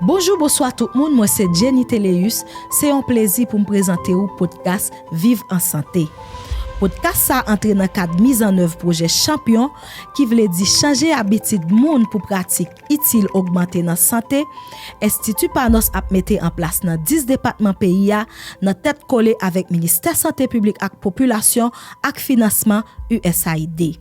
Bonjou bonswa tout moun mwen se Jenny Théléus se yon plezi poum prezante ou podkas viv an sante podkas sa antre nan kad miz an èv pwojè chanpyon ki vle di chanje abitid moun pou pratik itil ogmante nan sante enstiti panos ap mete an plas nan 10 depatman peyi a nan tèt kole avèk ministè sante piblik ak popilasyon ak finansman usaid.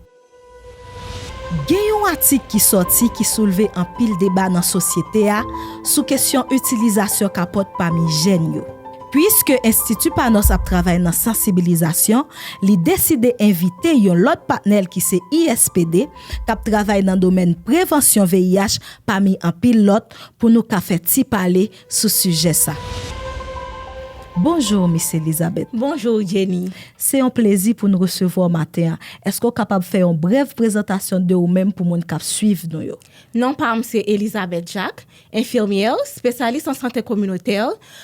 Gen yon atik ki sòti ki soulve anpil deba nan sosyete a sou kesyon itilizasyon kapòt pami jèn yo. Puiske Enstiti Panos ap travay nan sansibilizasyon, li deside envite yon lòt patnè l ki se ISPD, k ap travay nan domèn prevansyon VIH pami anpil lòt, pou nou ka fè ti pale sou sijè sa. Bonjour Miss Elizabeth. Bonjour Jenny. Se yon plezi pou n resevwa w maten an. Eske w kapab fè yon brèv prezantasyon de ou menm pou moun k ap swiv nou yo? Non pa m se Elizabeth Jacques, enfimyè, spesyalis an sante kominotè.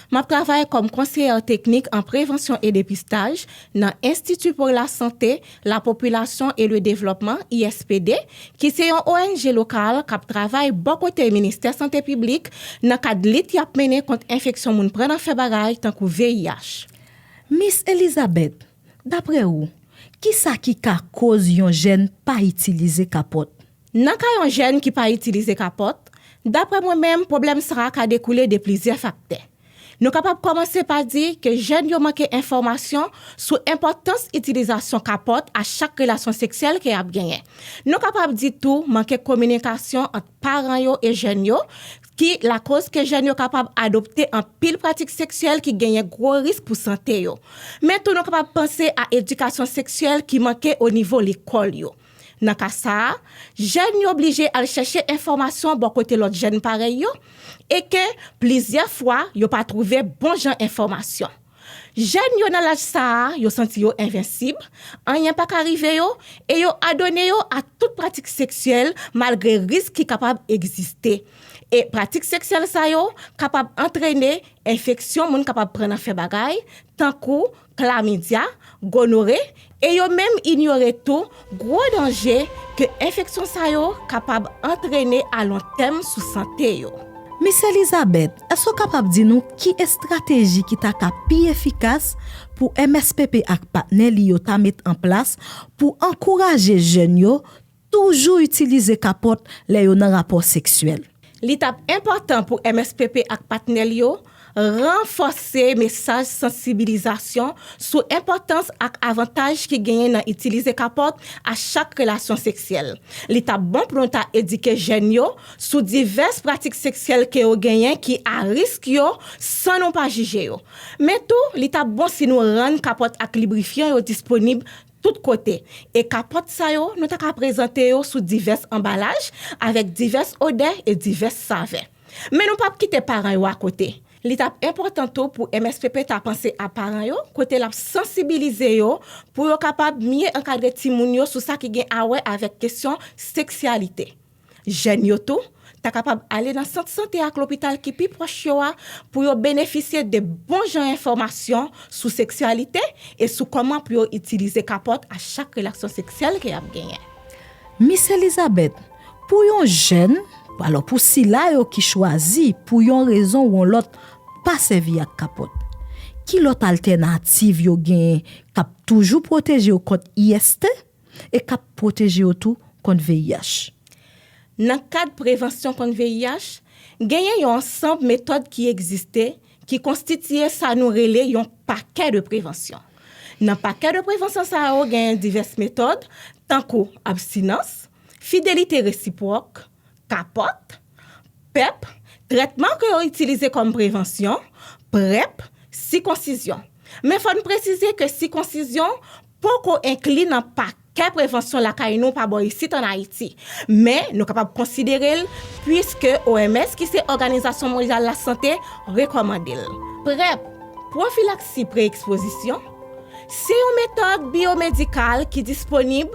M ap travay kòm konseyè teknik an prevansyon e depistaj nan Institut pour la Santé La Population et le Développement, ISPD, ki se yon ong lokal k ap travay bò kote Ministè Sante Piblik nan kad lit y ap mennen kont enfeksyon moun pran nan fè bagay tankou VIH. Miss Elizabeth, daprè ou, kisa ki ka koz yon jèn pa itilize kapòt? Nan ka yon jèn ki pa itilize kapòt, daprè mwen menm pwoblèm sa a ka dekoule de plizyè faktè. Nou kapab kòmanse pa di ke jèn yo manke enfòmasyon sou enpòtans itilizasyon kapòt a chak relasyon seksyèl ke y ap genyen. Nou kapab di tou manke kominikasyon ant paran yo e jèn yo ki lakoz ke jèn yo kapab adopte anpil pratik seksyèl ki genyen gwo risk pou sante yo. Men tou nou kapab panse a edikasyon seksyèl ki manke o nivo lekòl yo. Nan ka sa a, jèn yo blije al chèche enfòmasyon bò kote lòt jèn parèy yo e ke plizyè fwa yo pa twouve bon jan enfòmasyon. Jèn yo nan laj sa a yo santi yo envensib, anyen pa ka rive yo e yo adone yo a tout pratik seksyèl malgre risk ki kapab egziste. E pratik seksyèl sa yo kapab antrene enfeksyon moun kapab pran nan fè bagay, tankou. klamidya, gonore, e yo menm inyore tou gwo danje ke enfeksyon sa yo kapab antrene a lon tèm sou sante yo. Mis Elizabeth, èske w kapab di nou ki estrateji ki ta ka pi efikas pou MSPP ak patnè li yo ta met an plas pou ankouraje jèn yo Toujou itilize kapòt lè yo nan rapò seksyèl. Li t ap enpòtan pou MSPP ak patnè l yo ranfòse mesaj sansibilizasyon sou enpòtans ak avantaj ki genyen nan itilize kapòt a chak relasyon seksyèl. Li t ap bon pou nou ta edike jèn yo sou divès pratik seksyèl ke yo genyen ki a risk yo san nou pa jije yo. Men tou, li t ap bon si nou rann kapòt ak librifyan yo disponib tout kote, e kapòt sa yo nou ta ka prezante yo sou divès anbalaj, avèk divès odè e divès savè. Men nou pap kite paran yo akote. Li t ap enpòtan tou pou MSPP ta panse a paran yo, kote l ap sansibilize yo pou yo kapab mye ankadre timoun yo sou sa ki gen awè avèk kesyon seksyalite. Jèn yo tou ta kapab ale nan sant sante ak lopital ki pi pwòch yo a pou yo benefisye de bon jan enfòmasyon sou seksyalite e sou kòman pou yo itilize kapòt a chak relaksyon seksyèl ke y ap genyen. Mis Elizabeth, pou yon jèn, alò pou sila yo ki chwazi pou yon rezon ou yon lòt pa sèvi ak kapòt, ki lòt altènativ yo genyen k ap toujou pwoteje yo kont IST? e k ap pwoteje yo tou kont VIH. Nan kad prevansyon kont VIH, genyen yon ansanb metòd ki egziste ki konstitiye sa nou rele yon pakè de prevansyon. Nan pakè de prevansyon sa yo genyen divès metòd, tankou abstinans, fidelite resipwòk, kapòt, pep, trètman ke yo itilize kòm prevansyon, prep, sikonsizyon. Men fò n presize ke sikonsizyon poko enkli nan pakè prevansyon lakay nou pa bò isit an Ayiti, men nou kapab konsidere l puiske OMS ki se Òganizasyon Mondyal Lasante rekòmande l. Prep, Pwofilaksi Pre-Ekspozisyon, se yon metòd biyomedikal ki disponib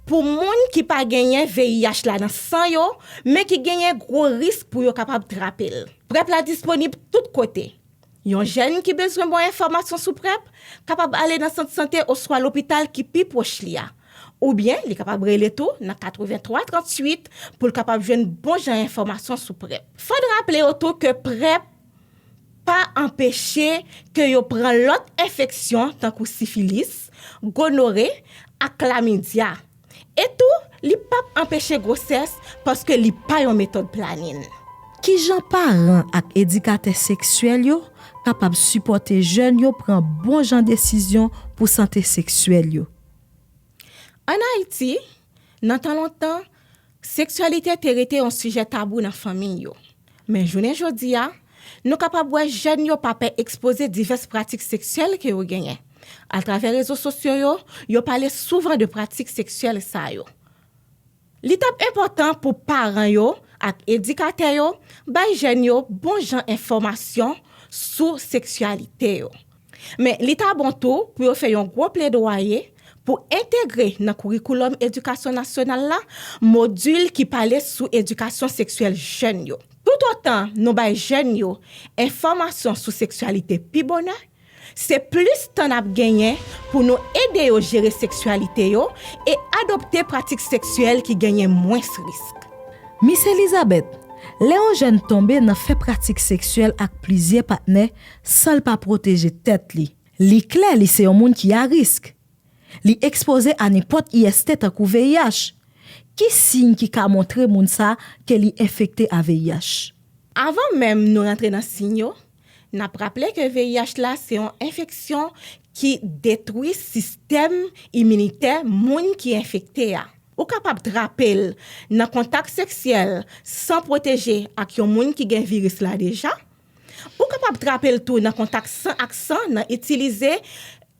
pou moun ki pa genyen VIH la nan san yo men ki genyen gwo risk pou yo kapab trape l. Prep la disponib tout kote. Yon jèn ki bezwen bon enfòmasyon sou PrEP kapab ale nan sant sante oswa lopital ki pi pwòch li a. Oubyen li kapab rele tou nan 83 38 pou l kapab jwenn bon jan enfòmasyon sou PrEP. Fò n raple yo tou ke PrEP pa anpeche ke yo pran lòt enfeksyon tankou sifilis, gonore ak klamidya E tou, li p ap anpeche gwosès paske li pa yon metòd planin. Kijan paran ak edikatè seksyèl yo kapab sipòte jèn yo pran bon jan desizyon pou sante seksyèl yo? An Ayiti, nan tan lontan, Seksyalite te rete yon sijè tabou nan fanmiy yo. Men jounen jodi a, nou kapab wè jèn yo pa pè ekspoze divès pratik seksyèl ke yo genyen. Atravè rezo sosyo yo, yo pale souvan de pratik seksyèl sa yo. Li t ap enpòtan pou paran yo ak edikatè yo bay jèn yo bon jan enfòmasyon sou seksyalite yo. Men, li ta bon tou pou yo fè yon gwo pledwaye pou entegre nan kourikoulòm edikasyon nasyonal la modil ki pale sou edikasyon seksyèl jèn yo. Toutotan nou bay jèn yo enfòmasyon sou seksyalite pi bonè, se plis tan n ap genyen pou nou ede yo jere seksyalite yo e adopte pratik seksyèl ki genyen mwens risk. Mis Elizabeth, Lè yon jèn tonbe nan fè pratik seksyèl ak plizyè patnè, San l pa pwoteje tèt li. Li klè li se yon moun ki a risk. Li ekspoze a nenpòt IST tankou VIH. Ki siy ki ka montre moun sa ke li enfekte a VIH? Avan menm nou rantre nan siy yo, n ap raple ke VIH la se yon enfeksyon ki detwi sistèm iminitè moun ki enfekte a. Ou kapab trape l nan kontak seksyèl san pwoteje ak yon moun ki gen viris la deja. Ou kapab trape l tou nan kontak san ak san nan itilize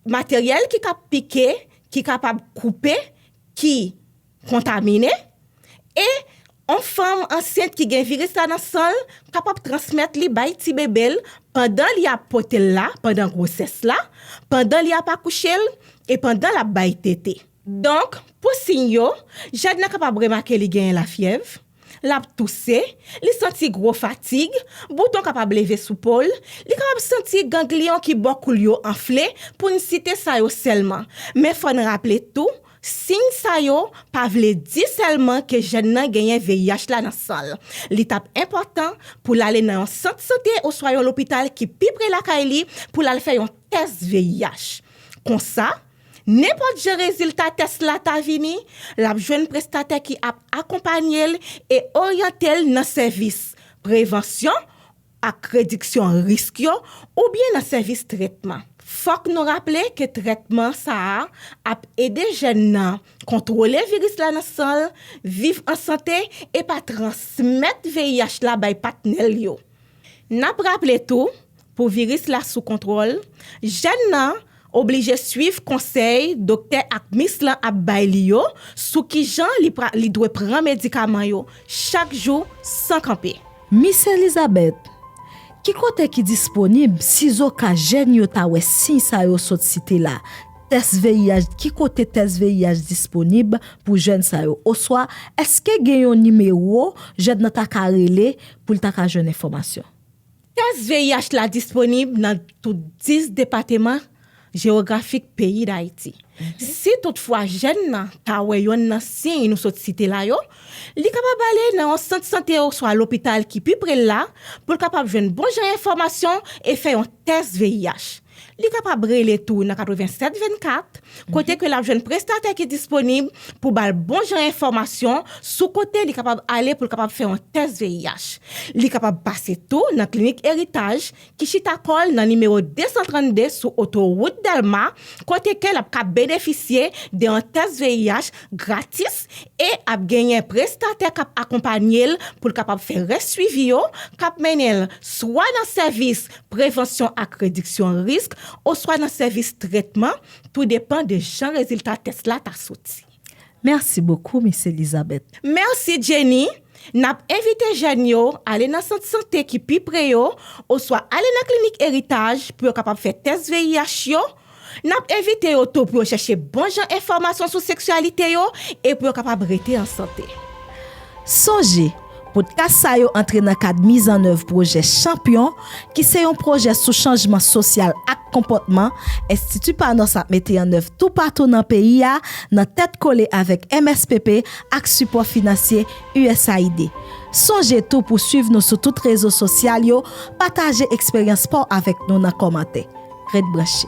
materyèl ki ka pike, ki kapab koupe, ki kontamine. E yon fanm ansent ki gen viris la nan san l kapab transmèt li bay ti bebe l pandan li ap pote l la, pandan gwosès la, pandan li ap akouche l e pandan l ap bay tete. Donk, pou siy yo, jèn nan kapab remake li genyen lafyèv, L ap touse, li santi gwo fatig, bouton kapab leve sou po l, li kapab santi gangliyon ki bò kou l yo anfle, pou n site sa yo sèlman. Men fò n raple tou, siy sa yo pa vle di sèlman ke jèn nan genyen VIH la nan san l. Li t ap enpòtan pou l ale nan yon sant sante oswa yon lopital ki pi pre lakay li pou l al fè yon tès VIH. Konsa, Nenpòt jan rezilta tès la ta vini, l ap jwenn prestatè ki ap akonpanye l e oryante l nan sèvis prevansyon ak rediksyon risk yo oubyen nan sèvis trètman. Fòk nou raple ke trètman sa a ap ede jèn nan kontwole viris la nan san l, viv an sante e pa transmèt VIH la bay patnè l yo. N ap raple tou, pou viris la sou kontwòl, jèn nan oblije swiv konsèy doktè ak mis lan ap bay li yo sou kijan li dwe pran medikaman yo chak jou san kanpe. Mis Elizabeth, ki kote ki disponib sizoka jèn yo ta wè siy sa yo sot site la, tès VIH, ki kote tès VIH disponib pou jèn sa yo? Oswa èske gen yon nimewo jèn nan ta ka rele pou l ta ka jwenn enfòmasyon. Tès VIH la disponib nan tout 10 depateman jewografik peyi Dayiti. Si tout fwa jèn nan ta wè yonn nan siy nou sot site la yo, li kapab ale nan yon sant sante oswa lopital ki pi pre l la pou l kapab jwenn bon jan enfòmasyon e fè yon tès VIH. Li kapab rele tou nan 87 24, kote ke l ap jwenn prestatè ki disponib pou ba l bon jan enfòmasyon sou kote li kapab ale pou l kapab fè yon tès VIH. Li kapab pase tou nan klinik Eritaj ki chita kò l nan nimewo 232 sou otowout Dèlma, kote ke l ap ka benefisye de yon tès VIH gratis e ap genyen prestatè k ap akonpanye l pou l kapab fè rès swivi yo, k ap mennen l swa nan sèvis prevansyon ak rediksyon risk, oswa nan sèvis trètman, tou depan de jan rezilta tès la ta soti. Mèsi bokou, Miss Elizabeth. Mèsi, Jenny. N ap envite jèn yo ale nan sant sante ki pi pre yo oswa ale nan klinik Eritaj pou yo kapab fè tès VIH yo N ap envite yo tou pou yo chèche bon jan enfòmasyon sou seksyalite yo e pou yo kapab rete an sante. Sonje, Podcast sa yo antre nan kad mizannèv pwojè Chanpyon ki se yon pwojè sou chanjman sosyal ak konpòtman Enstiti Panos ap mete an èv toupatou nan peyi a nan tèt kole avèk MSPP ak sipò finansye usaid. Sonje tou pou swiv nou sou tout rezo sosyal yo, pataje eksperyans pa w avèk nou nan kòmantè. Ret branche.